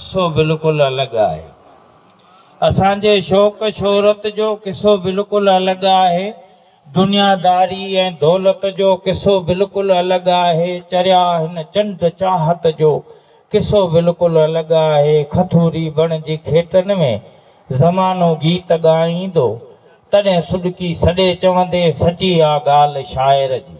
قصو بلڪل الڳ آهي. اسان جي شوق شهرت جو قصو بلڪل الڳ آهي. دنياداري ۽ دولت جو قصو بلڪل الڳ آهي. چريا هن چنڊ چاهت جو قصو بلڪل الڳ آهي. کٿوري بڻ جي کيٽن ۾ زمانو گيت ڳائيندو، تڏهن سڏڪي سڏي چوندين سچي آ ڳالهه شاعر جي.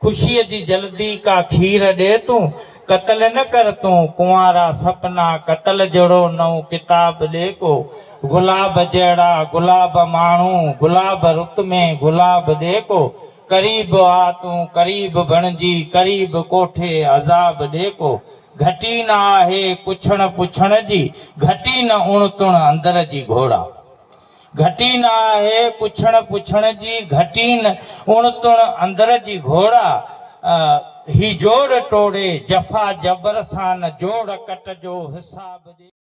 خوشيء جي جلدي ڪا کير ڏي تون، قتل نه ڪر تون ڪنوارا سپنا قتل جهڙو نئون ڪتاب ڏي ڪو، گلاب جهڙا گلاب ماڻهو گلاب رت ۾ گلاب ڏي ڪو، قريب آ تون قريب بڻجي قريب ڪوٺي عذاب ڏي ڪو، گهٽي نه آهي پڇڻ پڇڻ جي گهٽي نه اڻ تڻ اندر جي گهوڙا. گهٽي نه آهي پڇڻ پڇڻ جي گهٽي نه اڻ تڻ اندر جي گهوڙا هي جوڙ ٽوڙي جفا جبر سان نه جوڙ ڪٽ جو حساب ڏي.